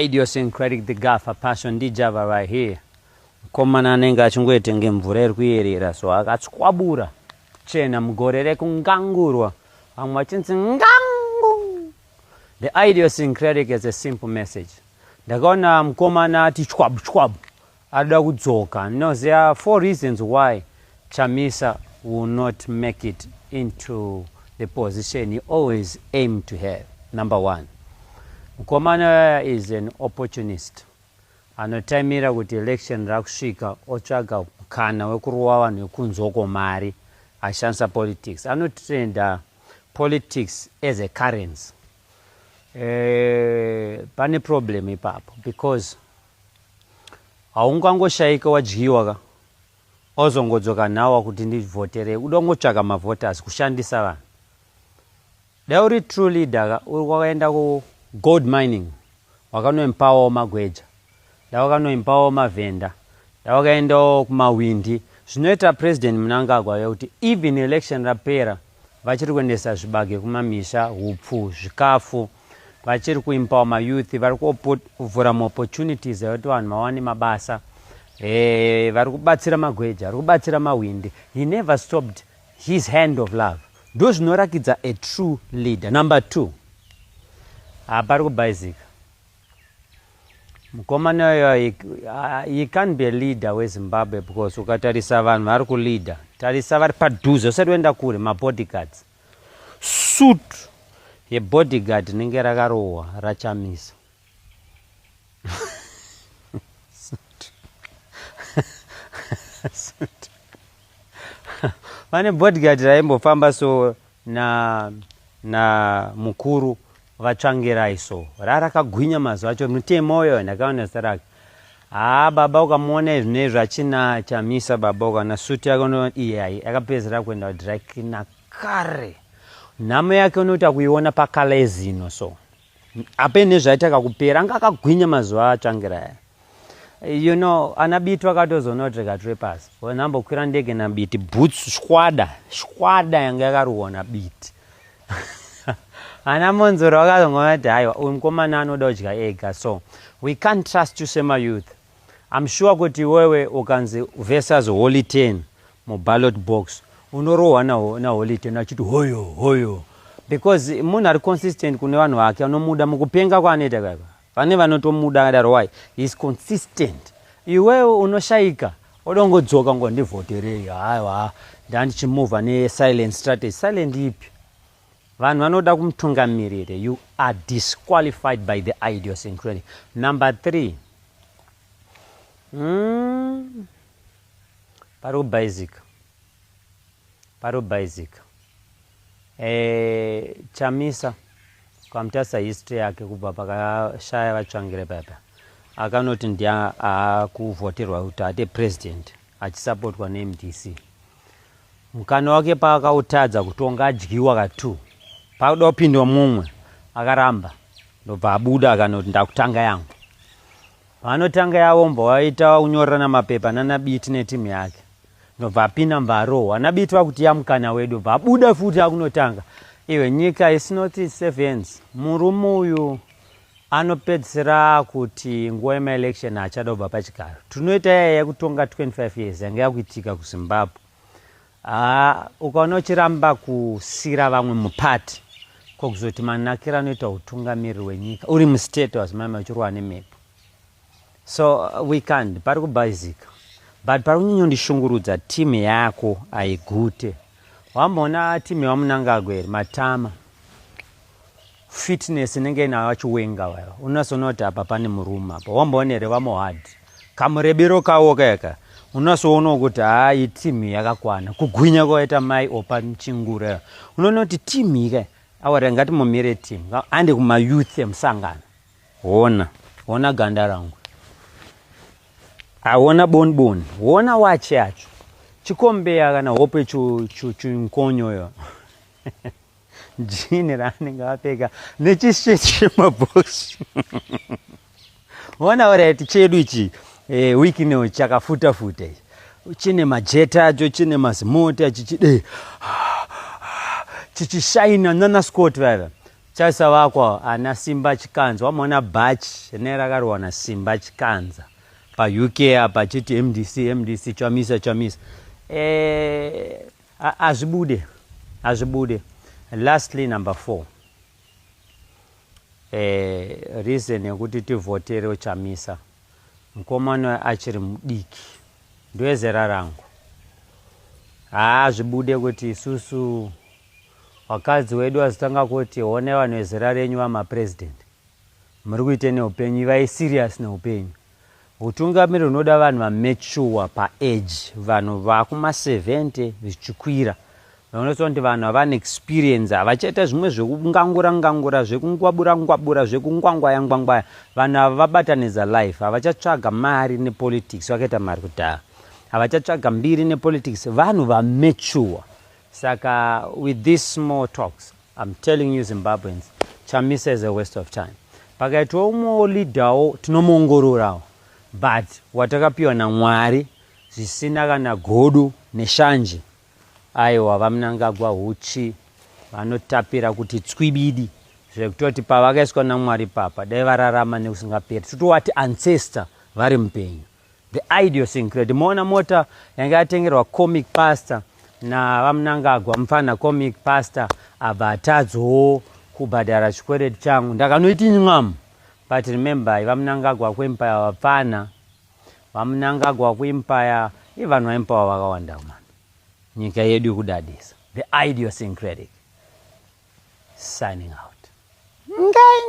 idiosyncratic the gafa passion ndijava right here mukomana anenge achingoetenge mvura iri kuyerera so akatswabura chena mugore rekungangurwa vamwe vachinzi ngangu the idiosyncratic is a simple message ndakaona mukomana ati chwabu chwabu Arikuda kudzoka no there are four reasons why Chamisa will not make it into the position he always aim to have number one mukomana uyaya is an opportunist anotaimira kuti election rakusvika otsvaga mukana wekurova vanhu vekunzoko mari ashandisa politics anotrenda politics as a currency e, pane problem ipapo because Haungangoshaika wadyiwa ka ozongodzoka nawa kuti ndivhoterei uda kungotsvaka mavoters kushandisa vanhu. Dai uri true leader ka uri kwakaenda ku gold mining wakanoimpawawo magweja dai wakanoimpawawo mavhenda dai wakaendawo kumawindi zvinoita President Mnangagwa kuti even election rapera vachiri kuendesa zvibage kumamisha hupfu zvikafu vachiri kuimpawa mayouth vari kuvhura maopportunities ekuti vanhu vawane mabasa e, vari kubatsira magweja vari kubatsira mahwindi he never stopped his hand of love ndo zvinorakidza a true leader number two hapari kubaizika mukomana uyo he, he can't be a leader wezimbabwe because ukatarisa vanhu vari kuleader tarisa vari padhuze usati uenda kure mabodyguards suit yebodyguard rinenge rakarohwa rachamisa vane bodyguard raimbofamba so na na mukuru vatsvangirai so rarakagwinya mazuva acho mutemo uyo ndakaona zita rake haa baba ukamuona izvi nezvi achina chamisa baba ukaona suti yake uno iyai akapedzera kuenda kudrakina kare nhamo yake unoita kuiona pakalezino so ape nezvaita kakupera anga akagwinya mazuva atsvangira aya you know ana biti vakatozoona kuti reka tore pasi nambokwira ndege nabiti boots shwada shwada yanga yakaruwa nabiti ana monzoro vakazongoona kuti haiwa uyu mukomana anoda kudya ega so we can't trust you semayouth im sure kuti wewe ukanzi versus holy ten mu ballot box unorohwa na, na holy ten achiti hoyo hoyo because munhu ari consistent kune vanhu vake vanomuda mukupenga kwaanoita kaka vane vanotomuda kadaro why he is consistent iwewe unoshaika odongodzoka ngo ndivhoterei haiwa ndandichimuvha ne silent strategy silent ipi vanhu vanoda kumutungamirire you are disqualified by the idiosyncratic number three mm. Parikubaizika. Parikubaizika. Eh, Chamisa kwamutasa history yake kubva pakashaya vatsvangire papa akanoti ndiye akuvhoterwa kuti ate president achisapotwa nemdc mukana wake paakautadza kutonga adyiwa katu pakuda kupindwa mumwe akaramba ndobva abuda akanoti ndakutanga yangu Vanotanga yavo mbwa vaita vakunyorerana mapepa nana Biti netimu yake ndobva apinda mbva arohwa nabiti vakuti yamukana wedu bva abuda futi akunotanga iwe nyika is not in safe hands murume uyu anopedzisira kuti nguva yemaelection achada kubva pachigaro tinoita yaya yekutonga 25 years yanga yakuitika kuzimbabwe Haa ukaona uchiramba kusira vamwe mupati ko kuzoti manakira anoita hutungamiriri wenyika uri mustate was mama uchirwa nemhepo so uh, we can't pari kubhaizika but pari kunyonyondishungurudza team yako aigute wamboona team yevamunangagwa here matama fitness inenge inayo vachiwenga vaya unasoona kuti apa pane murume apa wamboona here vamohad kamurebiro kawo kayaka unasoonawo kuti hayi timu yakakwana kugwinya kwaita mai opa chingura unoona kuti timu ika awari ngati mumire timu ande kumayouth emusangano hona hona ganda rangu awona boniboni hona wachi yacho chikombeya kana hope chunkonyoyo Jini raanenge apfeka nechishirt chemabhosi. Ona orati chedu ichi eh, wiki ino chakafuta futa ichi. Chine majeta acho chine mazimoti achichide chichishaina nana Scott vaiva chaisa vakwa ana Simba Chikanza wamona bhachi ne rakarwa na Simba Chikanza pa UK apa chiti MDC MDC chamisa chamisa eh Hazvibude, hazvibude. Lastly number four. Eh, reason yekuti tivhotere uchamisa mukomana achiri mudiki ndoezera rangu haa zvibude kuti isusu vakadzi wedu vazotanga kuti one vanhu vezera renyu vamapresident muri kuite neupenyu ivai serious neupenyu Hutungamiri hunoda vanhu vametshuwa paage vanhu vakuma 70 zvichikwira vaonesa kuti vanhu havana experience havachaita zvimwe zvekungangura ngangura zvekungwabura ngwabura zvekungwangwaya ngwangwaya vanhu ava vabatanidza life havachatsvaga mari nepolitics vakaita mari kudhaya havachatsvaga mbiri nepolitics vanhu vametshuwa saka with this small talks I'm telling you Zimbabweans, Chamisa is a waste of time. Pakaitwa umwewo leader wo tinomuongororawo but watakapiwa naMwari zvisina kana godo neshanje aiwa vaMnangagwa huchi vanotapira kuti tswibidi zvekutoti pavakaiswa naMwari papa dai vararama nekusingaperi totowati ancestor vari mupenyu. The Idiosyncrate. Moona mota yanga yatengerwa comic pastor navamunangagwa mupfanha comic pastor abva atadzowo kubhadhara chikwereti changu ndakanoiti nyam but remember vamunangagwa kuempire vapfanha vamunangagwa kuempire ivanhu vaempire vakawanda mani nyika yedu yekudadisa the idiosyncratic signing out Ngang.